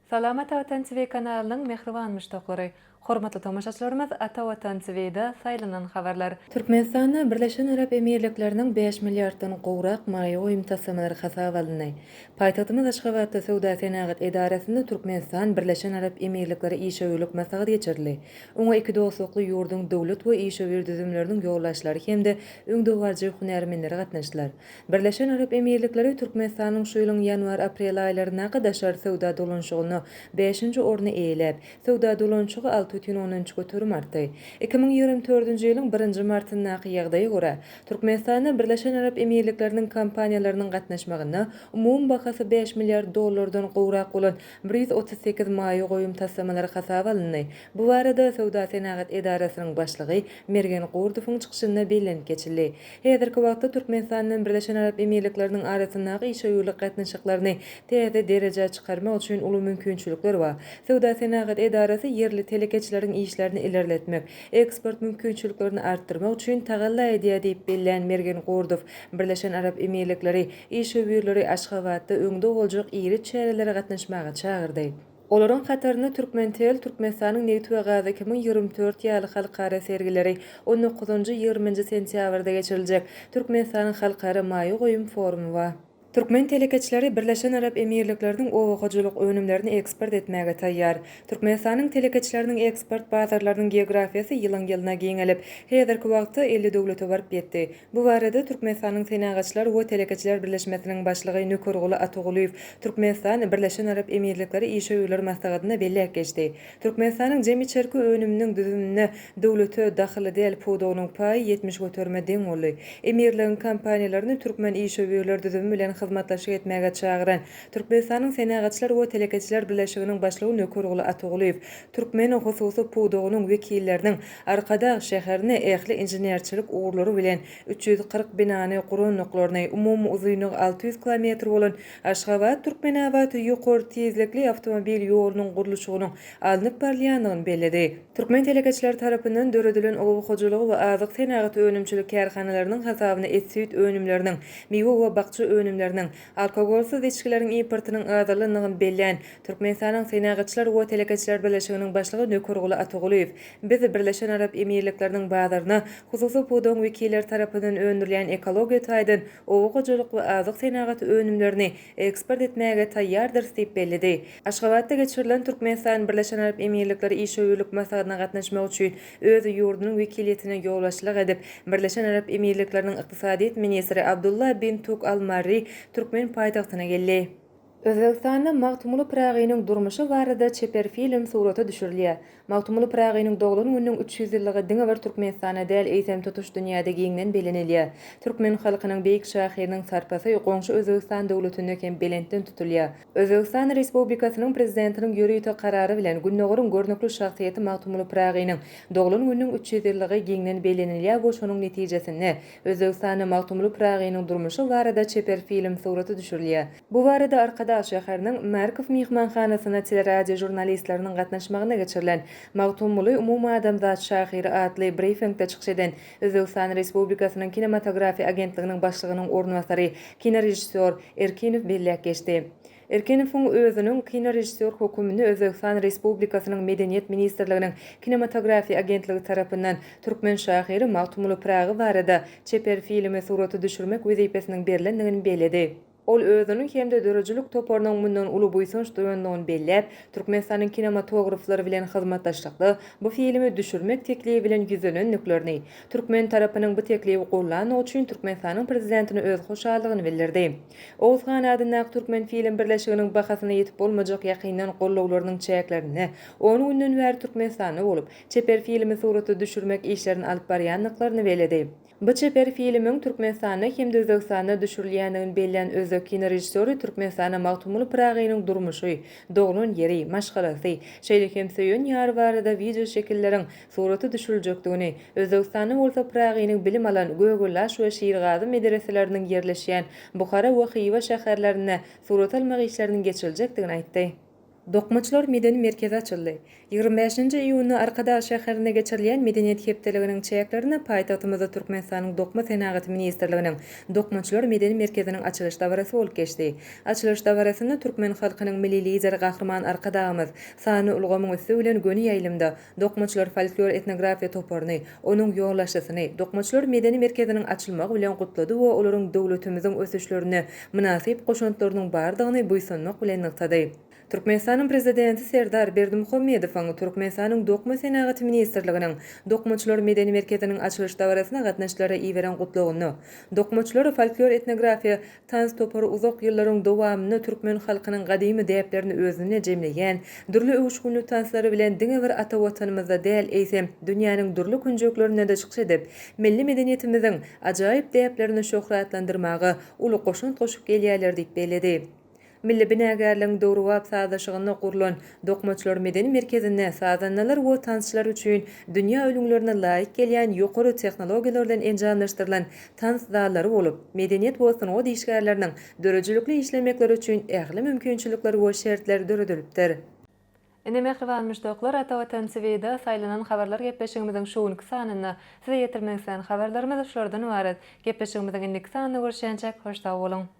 Salam Ata Watan TV kanalynyň mähriban muşdaklary! Hormatly tomaşaçylarymyz Ata Watan TV'da saýlanan habarlar. Türkmenistanda Birleşen Arap Emirlikleriniň bäş milliarddan gowrak maýa goýum taslamalary hasaba alyndy. Paýtagtymyz Aşgabatda Söwda-senagat edarasynda Türkmenistan, Birleşen Arap Emirlikleri işewürlik maslahaty geçirildi. Oňa iki dostlukly ýurduň döwlet we işewür düzümleriniň ýolbaşçylary hem-de öňdebaryjy hünärmenleri gatnaşdylar. Birleşen Arap Emirlikleri Türkmenistanyň şu ýylyň ýanwar-aprel aýlaryndaky daşary söwda dolanşygynda bäşinji orny eýeläp, söwda dolanşygy alty bütin ondan üç göterim artdy. Iki müň ýigrimi dördünji ýylyň birinji martyndaky ýagdaýa görä, Türkmenistana Birleşen Arap Emirlikleriniň kompaniýalarynyň gatnaşmagynda umumy bahasy bäş milliard dollardan gowrak bolan bir ýüz otuz sekiz maýa goýum taslamalary hasaba alyndy. Bu barada Söwda-senagat edarasynyň başlygy Mergen Gurdowyň çykyşynda bellenip geçildi. Häzirki wagtda Türkmenistan bilen Birleşen Arap Emirlikleriniň arasyndaky işewürlik gatnaşyklaryny täze derejä çykarmak üçin uly mümkinçilikler bar. Söwda-senagat edarasy ýerli telekeçileriň işlerini ilerletmek, eksport mümkinçiliklerini artdyrmak üçin tagalla edýär diýip bellän Mergen Gordow, Birleşen Arap Emirlikleri işewürleri Aşgabatda öňde boljak iri çärelere gatnaşmaga çagyrdy. Olaryň hatarynda Türkmentel, Türkmenistanyň nebit we gazy iki müň ýigrimi dört ýaly halkara sergileri on dokuzynjy, ýigriminji sentýabrda geçiriljek Türkmenistanyň halkara maýa goýum forumy bar. Türkmen telekeçileri Birleşen Arap Emirlikleriniň oba hojalyk önümlerini eksport etmäge taýýar. Türkmenistanyň telekeçileriniň eksport bazarlarynyň geografiýasy ýylyň-ýylyna giňelip, häzirki wagtda elli döwlete baryp ýetdi. Bu barada Türkmenistanyň Senagatçylar we telekeçiler birleşmesiniň başlygy Nökerguly Atagulyýew Türkmenistan, Birleşen Arap Emirlikleri işewürler maslahatynda belläp geçdi. Türkmenistanyň jemi içerki önüminiň düzüminde döwlete dahyly däl pudagynyň paýy ýetmiş göterime deň boldy. Emirligiň kompaniýalaryny türkmen işewürler düzümi bilen hyzmatdaşlyk etmäge çagyran Türkmenistanyň Senagatçylar we telekeçiler birleşiginiň başlygy Nökerguly Atagulyýew türkmen hususy pudagynyň wekilleriniň Arkadag şäherini ähli inženerçilik ugurlary bilen üç ýüz kyrk binany gurandyklaryny, umumy uzynlygy alty ýüz kilometr bolan Aşgabat, Türkmenabat ýokary tizlikli awtomobil ýolunyň gurluşygynyň alnyp barylýandygyny belledi. Türkmen telekeçileri tarapyndan döredilen oba hojalygy we azyk senagaty önümçilik kärhanalarynyň hasabyna et-süýt önümleriniň, miwe we bakja önümleriniň, Alkogolsyz içgileriň importynyň azalandygyny bellän Türkmenistanyň Senagatçylar we telekeçiler birleşiginiň başlygy Nökerguly Atagulyýew, Biz Birleşen Arap Emirlikleriniň bazaryna hususy pudagyň wekilleri tarapyndan öndürilýän ekologiýa taýdan oba hojalyk we azyk senagaty önümlerini eksport etmäge taýýardyrys diýip belledi. Aşgabatda geçirilen Türkmenistan-Birleşen Arap Emirlikleri işewürlik maslahatyna gatnaşmak üçin Öz ýurdunyň wekiliýetine ýolbaşçylyk edip, Birleşen Arap Emirlikleriniň ykdysadyýet ministri Abdullah bin Tuk Al Marri türkmen paýtagtyna geldi. Özbegistanda Magtymguly Pyragynyň durmuşy barada çeper film surata düşürilýär. Magtymguly Pyragynyň doglan gününiň üç ýüz ýyllygy diňe bir Türkmenistanda däl, eýsem, tutuş dünýäde giňden bellenilýär. Türkmen halkynyň beýik şahyrynyň sarpasy goňşy Özbegistan döwletinde hem belentden tutulýar. Özbegistan Respublikasynyň Prezidentiniň ýörite karary bilen Gündogaryň görnükli şahsyýeti Magtymguly Pyragynyň doglan gününiň üç ýüz ýyllygy giňden bellenilýär we şonuň netijesinde Özbegistanda Magtymguly Pyragynyň durmuşy barada çeper film suraty düşürilýär. Bu barada Arkadag şäheriniň Markow myhmanhanasyna teleradio žurnalistleriniň gatnaşmagynda geçirilen Magtymguly umumadamzat şahyry atly brifingde çykyş eden Özbegistan Respublikasynyň Kinematografiýa agentliginiň başlygynyň orunbasary, kinorežissýor Erkinow belläp geçdi. Erkinowyň özüniň kinorežissýor hökümini Özbegistan Respublikasynyň Medeniýet ministrliginiň Kinematografiýa agentligi tarapyndan türkmen şahyry Magtymguly Pyragy barada çeper filmi surata düşürmek wezipesiniň berlendigini belledi. Ol özüniň hem-de döredijilik toparynyň mundan uly buýsanç duýandygyny belläp, Türkmenistanyň kinematograflary bilen hyzmatdaşlykda bu filmi düşürmek teklibi bilen ýüzlenendiklerini, türkmen tarapynyň bu teklibi gollandygy üçin Türkmenistanyň Prezidentine öz hoşallygyny bildirdi. Oguzhan adyndaky Türkmenfilm birleşiginiň bahasyna ýetip bolmajak ýakyndan gollawlarynyň çäklerinde on günden bäri Türkmenistanda bolup, çeper filmi surata düşürmek işlerini alyp barýandyklaryny belledi. Bu çeper filmiň Türkmenistanda hem-de Özbegistanda düşürilýändigini bellän özbek kinorežissýory Türkmenistana Magtymguly Pyragynyň durmuşy, doglan ýeri, maşgalasy, şeýle hem söýen ýary barada wideoşekilleriň, suraty düşüriljekdigini, Özbegistanda bolsa Pyragynyň bilim alan Gögöldaş we Şirgazy medereseleriniň ýerleşýän Buhara we Hywa şäherlerinde surat almak işleriniň geçiriljekdigini aýtdy. Dokmaçylar medeni merkezi açyldy. Ýigrimi bäşinji iýunda Arkadag şäherinde geçirilýän Medeniýet hepdeliginiň çäklerinde paýtagtymyzda Türkmenistanyň Dokma senagaty ministrliginiň Dokmaçylar medeni merkeziniň açylyş dabarasy bolup geçdi. Açylyş dabarasynda türkmen halkynyň Milli Lideri Gahryman Arkadagymyz sanly ulgamyň üsti bilen göni ýaýlymda Dokmaçylar folklor-etnografiýa toparyny, onuň ýolbaşçysyny Dokmaçylar medeni merkeziniň açylmagy bilen gutlady we olaryň döwletimiziň ösüşlerine mynasyp goşantlarynyň bardygyny buýsanmak bilen nygtady. Türkmenistanyň Prezidenti Serdar Berdimuhamedowyň Türkmenistanyň Dokma senagaty ministrliginiň Dokmaçylar medeni merkeziniň açylyş dabarasyna gatnaşyjylara iberen Gutlagynda Dokmaçylar folklor-etnografiýa Tans topary uzak ýyllaryň dowamynda türkmen halkynyň gadymy däplerini özünde jemleýän, dürli öwüşginli tanslary bilen diňe bir ata Watanymyzda däl, eýsem, dünýäniň dürli künjeklerinde-de çykyş edip, milli medeniýetimiziň ajaýyp däplerini şöhratlandyrmaga uly goşant goşup gelýärler diýip belledi. Milli binagärligiň döwrebap sazlaşygynda gurlan Dokmaçylar medeni merkezinde sazandalar we tansçylar üçin dünýä ülňülerine laýyk gelýän ýokary tehnologiýalar bilen enjamlaşdyrylan tans zallary bolup, medeniýet we sungat işgärleriniň döredijilikli işlemekleri üçin ähli mümkinçilikler we şertler döredilipdir. Ine, mähriban muşdaklar, Ata Watan TVda saýlanan habarlar gepleşigimiziň şu günki sanynda Size ýetirmek islän habarlarymyz şulardan ybarat. Gepleşigimiziň indiki sanynda görüşýänçäk, hoş sag boluň!